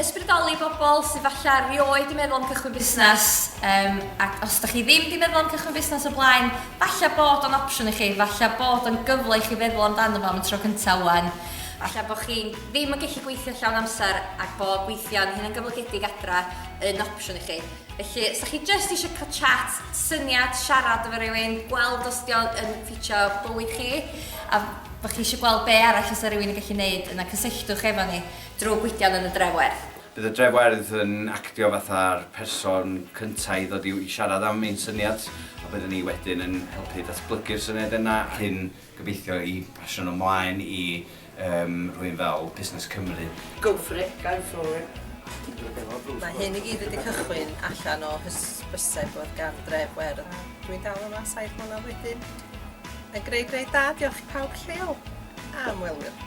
Ysbrydoli bobl sydd falle rioed di meddwl am cychwyn busnes, um, ac os ydych chi ddim di meddwl am cychwyn busnes o blaen, falle bod o'n opsiwn i chi, falle bod o'n gyfle i chi feddwl amdano fo am y tro cyntaf wan. Falle bod chi ddim yn gallu gweithio llawn amser ac bod gweithio'n hyn yn gyflogedig adra yn opsiwn i chi. Felly, os ydych chi jyst eisiau cael chat, syniad, siarad efo rhywun, gweld os di o'n ffitio bywyd chi, a bod chi eisiau gweld be arall os yna rhywun yn gallu gwneud, yna cysylltwch efo ni. Drwy Gwydion yn y Drewerth. Bydd y Drewerth yn actio fatha'r person cynta i ddod i siarad am ein syniad a byddwn ni wedyn yn helpu datblygu'r syniad yna ac yn gobeithio i basio nhw mlaen i yym rhywun fel Busnes Cymru. Go for it, go for it. Mae hyn i gyd wedi cychwyn allan o hysbyseb oedd gan Dref Werdd. Dwi'n dal yma saith mlynedd wedyn. Mae'n greu greu da, diolch i pawb lleol a ymwelwyr.